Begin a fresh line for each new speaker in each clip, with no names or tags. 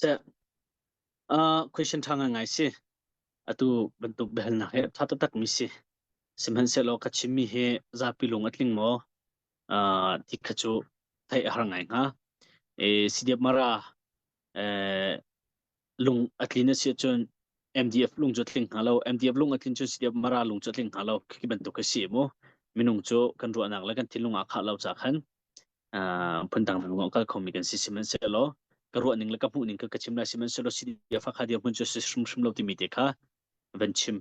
ceh uh, question tha ngai ngai si atu bantuk behalnak he tha tak mi si sihmanhsehlaw ka chim mi he zapi lung a tling maw uh, tik kha cu thai a har ngai hnga e CDF mara eh lung a tlin a si cun MDF lung cu tling hnga lo MDF lung a tlin cun CDF mara lung cu tling hnga lo khi bantuk ka si mu minung cu kan ruahnak le kan thinlung ah khah lo cha khan phundang vang ka khomi kan si sihmanhsehlaw ka ruah ning le ka hmuh ning ka ka chim lai sihmanhsehlaw si dia fa kha dia hun chu si hrimhrim lo timi te kha van chim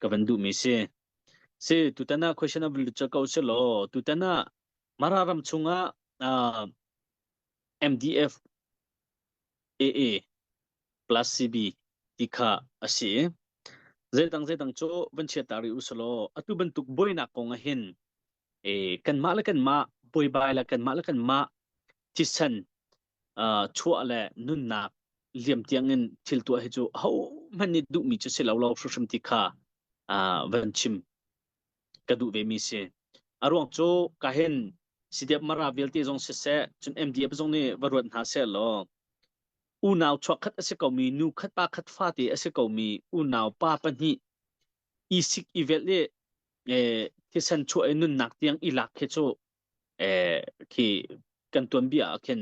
ka van duhmi si si tutana question of literature ko si law tutana mara ram chungah MDF AA plus CB ti kha asi zeidang zeidang cho van chia tari usalo atu bantuk boinak kong hin e kanmah le kanmah buaibai le kanmah le kanmah thisen uh, chuah le nunnak liam tiangin thil tuah hi cu hohmanh nih duhmi cu si lo lo hrimhrim ti kha uh, van chim ka duh ve mi si a ruang cu ka hin sideep mara vialte zong si se cun MDF zong nih va ruat hna se law unau chuak khat a si komi nu khat pa khat fa te a si komi unau pa pahnih i sik i velh i e, thisen chuah i nunnak tiang i lak khi cu e, khi kan tuanbia ah khin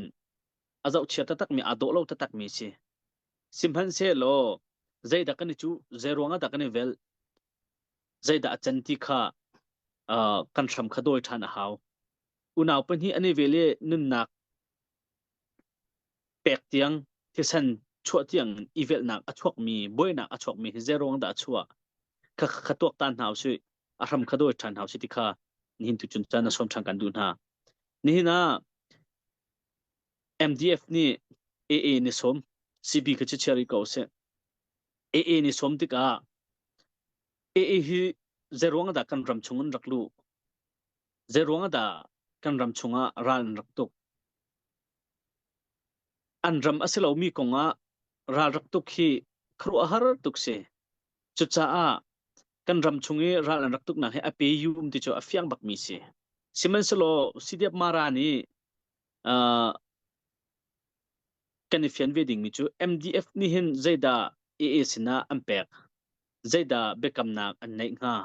a zoh chia takmi a dawh lo takmi si sihmanhsehlaw zeidah kan i cu zeiruangah dah kan i velh zeidah a can ti kha uh, kan hram kha dawi ṭhan a hau unau pahnih an i vel i nunnak pek tiang thisen chuah tiang in i velhnak a chuakmi buainak a chuakmi hi zeruang dah a chuah kha kha tuak ta hna usih a hram kha dawi ṭhan hna usih ti kha nihin tu cun caan na sawm ṭhan kan duh hna nihin ah MDF nih AA ni sawm CB kha cu chia rih ko usih AA ni sawm tikah AA hi zeruang dah kan ram chung in rak luh zeruang dah kan ram chung ah ral in rak tuk An ram a si lomi kong ah ralrak tuk hi khuaruahhar tuk si. Cucaah kan ram chung i ral an rak tuknak hi a pe um ti cu a fiang bakmi si. Sihmanhsehlaw Sidiap Mara nih uh, kan i fian ve dingmi cu MDF nih hin zeidah AA sinah an pek? Zeidah biakamnak an neih hnga?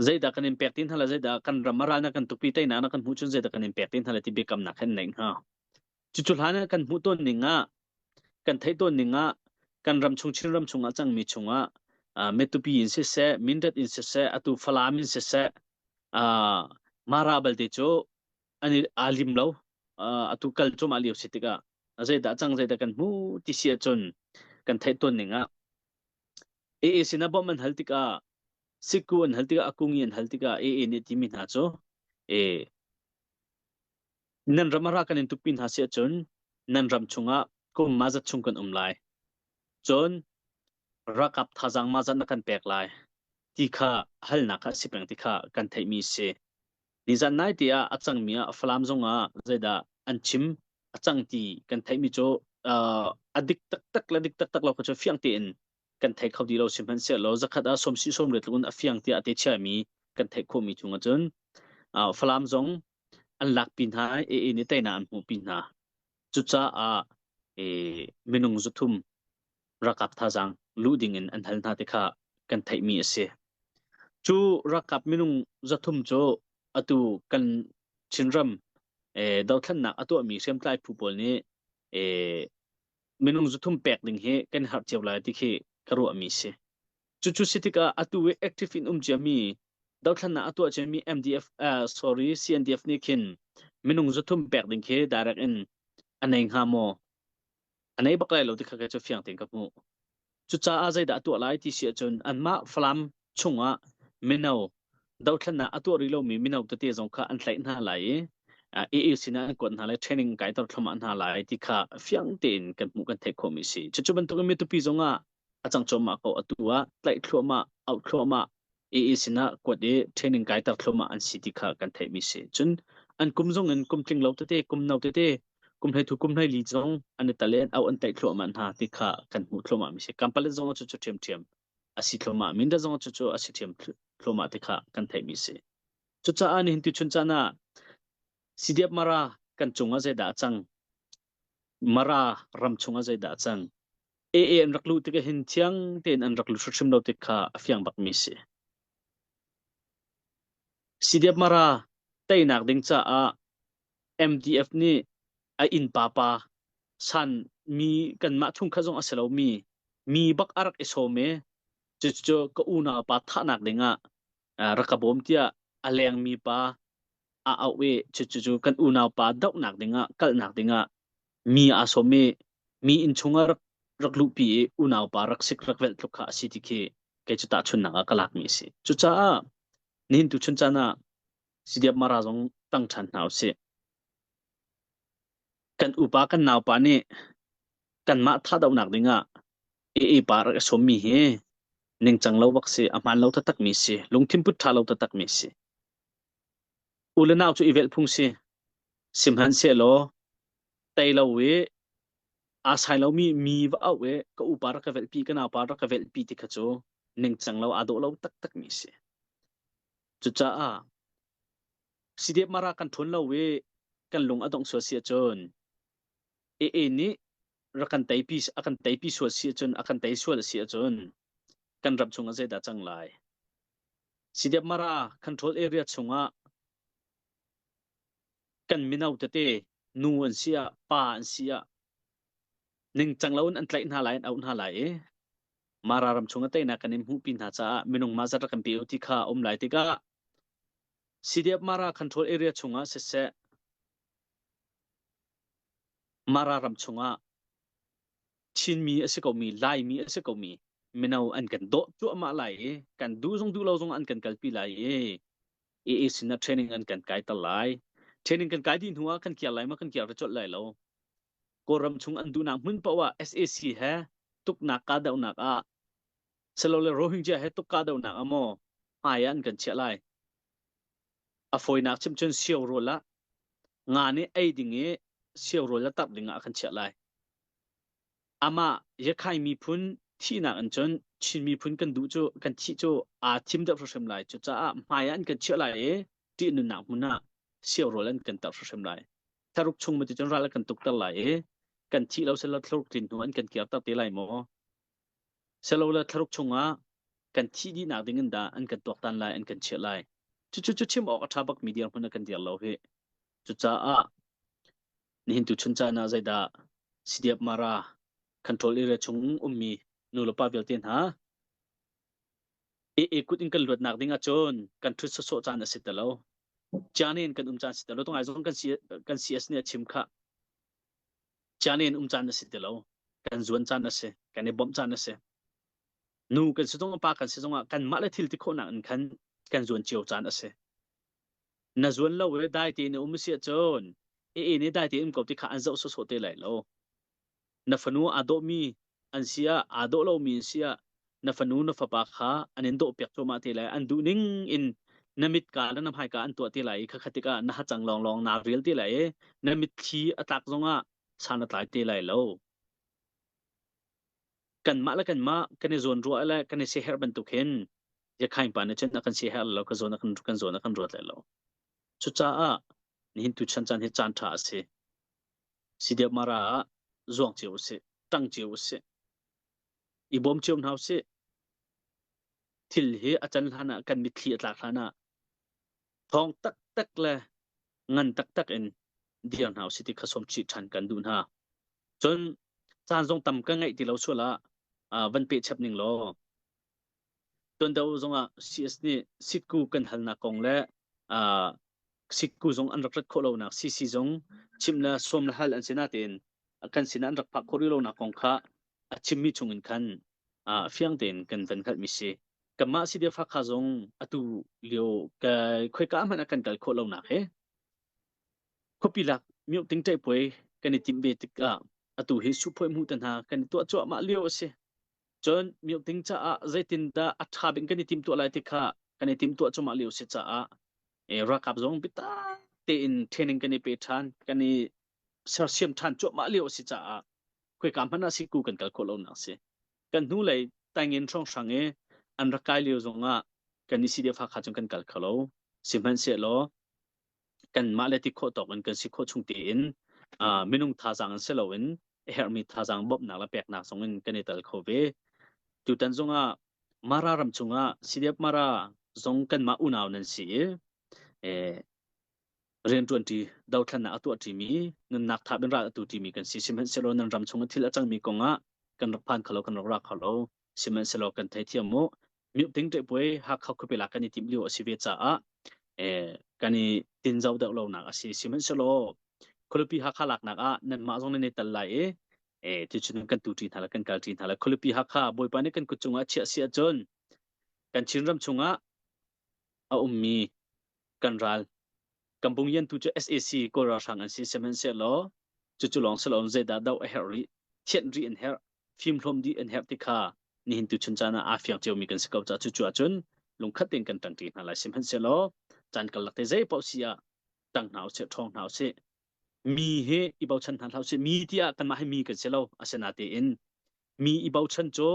zeidah kan in pek ti hna le zeidah kan ram a ral kan tukpi teinak na kan hmuh cun zeidah kan in pek ti hna le ti biakamnak hen neih hna cucu hlan kan hmuh tawn ning ah kan theih tawn ning ah kan ram chung chin ram chung ah cangmi chung ah metupi in siseh mindat in siseh atu falam in siseh mara balte cu ani alim lo atu kal cum a liu si tikah zeidah cang zeidah kan hmu ti sia cun kan theih tawn ning ah AAC na bawmh an hal tikah Sikku an hal tikah a kung i an hal tikah ee nih timi hna cu ee nan ram ah ra kan in tukpi hna si ahcun nan ram chungah kum ma zat chung kan um lai. Cun rakap thazang ma zat na kan pek lai ti kha halnak kha si peng ti kha kan theihmi si. Nizan nai te ah a cangmi ah Falam zong ah zeidah an chim a cang ti kan theihmi cu uh, a dik taktak le dik taktak lo kha cu fiang tein kan thei kho ti lo sihmanhsehlaw zakhat ah sawmsi sawm le tluk in a fiang tiah a te chiami kan theih khawhmi chung ahcun falam zong an lakpi hna i ni teinak an hmuhpi hna cucaah minung zuthum rakap thazang lu ding in an hal hna ti kha kan theihmi a si cu rakap minung zathum cu atu kan chinram dothlannak a tuahmi hriamtlai phu pawl nih minung zuthum pek ding hi kan harh cio lai ti khi ka ruahmi si. Cucu si tikah atu i active in um ciami dothlannak a tuah ciami MDF uh, sorry CNDF nih khin minung zuthum pek ding khi direct in anei hnga maw anei bak lai lo ti kha ka cu fiang ten ka hmuh Cucaah zeidah a tuah lai ti si ahcun anmah Falam chungah mino dothlannak a tuah rih lomi mino tete zong kha an tlaih hna lai i AA sinah an kuat hna lai training kai tor thluamah hna lai ti kha fiang tein kan hmuh kan theih khawhmi si. Cucu bantukin mi tupi zongah a cang cuahmah ko atu ah tlaih thluamah, auh thluamah AA sinah kuat i training kaiter thloma an si ti kha kan theihmi si. Cun an kum zong in kum tling lo tete, kum no tete, kum hlei thu kum hlei li zong an i talen au an tlaih thluahma hna ti kha kan hmuh thloma mi si. Kampalet zong cu cu ṭhiam ṭhiam a si thloma, minda zong cu cu a si ṭhiam thloma ti kha kan theihmi si. Cucaah nihin tu chun cana CDF mara kan cungah zeidah a cang Mara ram chungah zeidah a cang? AA an rak luh tikah hin thiang tein an rak lut hrimhrim lo tik kha a fiang bakmi si. Sidiap Mara teinak ding caah MDF nih a innpa pa san mi kanmah thung kha zong a si lomi mi bak a rak i sawm i cucu ka unaupa thahnak dingah rak ka bawm tiah a lengmi pa a auh i cucu kan unaupa dohnak dingah kalnak dingah mi aa sawm i mi inn chungah rak rak luhpi i unaupa rak sik rak velh tluk kha a si ti khi kei cu tahchunhnak ah ka lak mi a si cucaah nihin tu chun caan ah sidiap mara zong tang ṭhan hna u sih kan upa kan naupa nih kanmah thatdohnak dingah i ipa rak i sawm mi hi ningcang lo bak si a hmaan lo taktak mi si lungthin put ṭha lo taktak mi si U le nau cu i velh phung si. Sihmanhsehlaw tei lo i aa sai lomi mi va auh i ka upa rak ka velhpi ka naupa rak ka velhpi ti kha cu ningcang lo aa dawh lo taktakmi a si. Cucaah CDF mara kan ṭhun lo i kan lung a dongh sual si ahcun AA nih rak kan teipi a kan teipi sual si ahcun a kan tei sual a si ahcun kan ram chungah zeidah cang lai? Sidemara control area chungah kan mino tete nu an si ah pa an si ah ningcang loin an tlaih hna lai an auh hna lai i Mara ram chung a teinak kan in hmuhpi hna caah minung mah zat rak kan pe u ti kha a um lai tikah CDF Mara control area chungah siseh Mara ram chungah Chinmi a si komi, Laimi a si komi mino an kan dawh cuahmah lai i kan duh zong duh lo zong an kan kalpi lai i AA sin ah training an kan kai ter lai. Training kan kai dih hnu ah kan kiar lai ma kan kiar va colh lai lo. Kawlram chung an duhnak hmun paoh ah SAC he tuknak kahdohnak ah selo le Rohingya he tuk kahdohnak ah maw hmai ah an kan chiah lai. a fawinak chim cun siorawl ah nga nih ei ding i siorawl a tarh ding ah a kan chiah lai amah yakhai miphun thihnak in cun Chin miphun kan duh cu kan thih cu aa thim deuh hrimhrim lai cu caah hmai ah an kan chiah lai i ṭih nunnak hmun ah siorawl an kan tarh hrimhrim lai tharuk chung maticun ral a kan tukter lai i kan thih lo sel lo thluruk tlin hnu an kan kir te lai maw Silole thlaruk chungah kan thih dihnak ding in dah an kan tuaktan lai, an kan chiah lai. Cucu cu chim awk a ṭha bakmi dirhmun a kan dir lo hi. Cucaah nihin tuchun caan ah zeidah CDF Mara control area chung ummi nulepa vialte hna AA kut in kan luatnak ding ahcun kan ṭhut sawsawh caan a si te lo. Ciane in kan um caan si te lo. Tungai zong kan CS nih a chim khah. Ciane in um caan a si ti lo. Kan zuan caan a si. Kan i bawmh caan a si. Nu kan si zong pa kan si zong ah kan mah le thil ti khawhnak in khan kan zuan cio caan a si. Na zuan lo i dai ti na um si cun i in i dai ti um ko ti kha an zoh sawsawh te lai lo. Na fanu aa dawhmi an si ah aa dawh lomi an si ah na fanu na fapa kha an in dawhpiak cuahmah te lai an duh ning in na mitka le na hmaika an tuah te lai i khakha tikah na hacang lawnglawng naa rel te lai i na mitthli a tlak zongah san a tlai te lai lo kanmah le kanmah kan i zawn ruah le kan i siherh bantuk hin yakhain pa na chen a kan siherh lo ka zawn a kan kan zawn a kan ruat lai lo cucaah nihin tu chan chan hi caan tha a si si deuh mara ah zuang cio usih ṭang cio usih i bawm cio hna usih thil hi a can hlan ah kan mitthli a tlak hlan ah thawng taktak le ngan taktak in dir hna usih ti kha sawm chih ṭhan kan duh hna cun caan zong tam ka ngeih ti lo sual ah van peh chep ning law Tuanto zongah CS nih Sitku kan halnak kong le uh, Sitku zong an rak rat khawh lonak CC zong chim le sawm le hal an si natein kan sinah an rak phak khawh rih lonak kong kha a chimmi chungin khan uh, fiang tein kan van hngalhmi si. Kanmah Sidia Fakha zong atu lio khoika hmanh a kan kal khawh lonak he khuapi lak miu ting tei puai kan i timh ve tikah atu hi suphuai mu ta hna kan i tuah cuahmah lio a si. Cun milk ding caah zeitindah a ṭha bik in kan i timtuah lai ti kha kan i timtuah cumah lio a si caah e, ralkap zong biatak tein training kan i pe ṭhan, kan i sersiam ṭhan cuahmah lio a si caah khoika hmanh ah siku kan kal khawh lonak a si. Kan hnulei taingin hrawnghrang i an rak kai lio zongah kan i sidefa kha cun kan kal kho lo. Sihmanhsehlaw kanmah le ti khawh tawk in kan si khawh chung tein uh, minung thazang in si loin herhmi thazang bawmhnak le peknak zong in kan i tel kho ve tutan zongah mara ram chungah CDF mara zong kanmah unau nan si i eh, rian tuan ti dothan na atuah ti mi nun nak thap in ral atu ti mi kan si sihmanhsehlaw nan ram chungah thil a cang mi kongah kan rak phan khalo kan rak ra khalo sihmanhsehlaw kan theithiam u miuhtling ṭehpuai hakha khuapi la kan i tim lio a si ve caah kan i tinzo deuh lonak a si sihmanhsehlaw khualipi hakha laknak ah nanmah zong nan i tel lai i ticun kan tu ṭi hna le kan kal ṭi hna le khualipi hakha bawipa nih kan kut cungah a chiah si ahcun kan chinram chungah a ummi kan ral kan bungyantu cu sac kawl ralhrang an si sihmanhsehlaw cucu lawng si loin zeidah doh a herh rih thianh rih an herh fimhlawm dih an herh ti kha nihin tu chun caan ah aa fiang ciomi kan si ko caah cucu ahcun lungkhat tein kan ṭangṭi hna lai sihmanhsehlaw caan kalak te zei paoh si ah ṭang hna usih ṭhawng hna usih mi hi i bochan hna hlah usih mi tiah kanmah hi mi kan si lo asinatein mi i bochan cu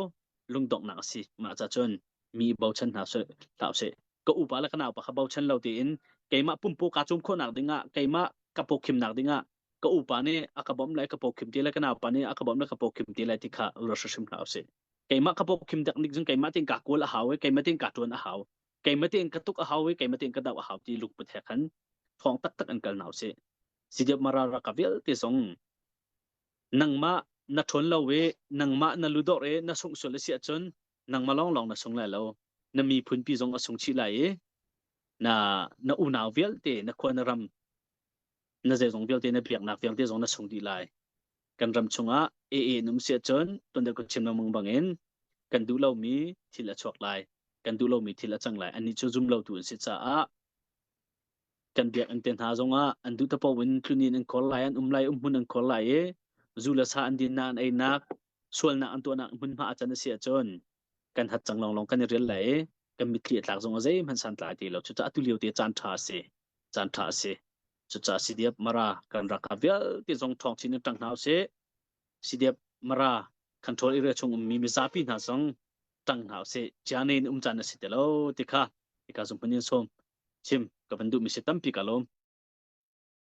lungdonghnak a si mah cun mi i bochan hna sih hlah sih ka upa le ka naupa kha bochan lo tiin keimah pumpu kaa cum khawhnak dingah keimah ka pawkhimnak dingah ka upa nih a ka bawmh le ka pawkhim ti le ka naupa nih a ka bawmh le ka pawkhim ti le ti kha ruat hrim hna usih keimah ka pawkhim dak nik cun keimah tin kaa kual a hau i keimah tin kaa tuan a hau keimah tin ka tuk a hau i keimah tin ka doh a hau ti luk puthe khan thong taktak an kal na usih sidiap marara ka vialte zong nangmah na ṭhawn lo i nangmah na ludawr i na sungsual a si ahcun nangmah lawnglawng na sung lai lo na miphunpi zong a sung chih lai i na na unau vialte na khua na ram na zeizong vialte na biaknak vialte zong na sung dih lai kan ram chungah AA num si ahcun tuan kan chim lengmang bangin kan duh lomi thil a chuak lai kan duh lomi thil a cang lai annih cu zum lotu an si caah kan biakinn te hna zongah an duh tapo in tluni an khor lai an um lai um hmun an khor lai i zu le sa an din nak an einak sualnak an tuahnak hmunhma a can a si ahcun kan hat cang lawnglawng kan i rial lai i kan mitthli a tlak zongah zeihmanh san tlai ti lo cucaah atu lio te caan ṭha a si caan ṭha a si cucaah si diap mara kan rak ha vialte zong ṭhawng chin in ṭang hna usih sidiap mara control area chung ummi mizapi hna song tang hna se chiane in um chan asi te lo ti kha ika zum panin som chim ka van duh mi se tampi ka lom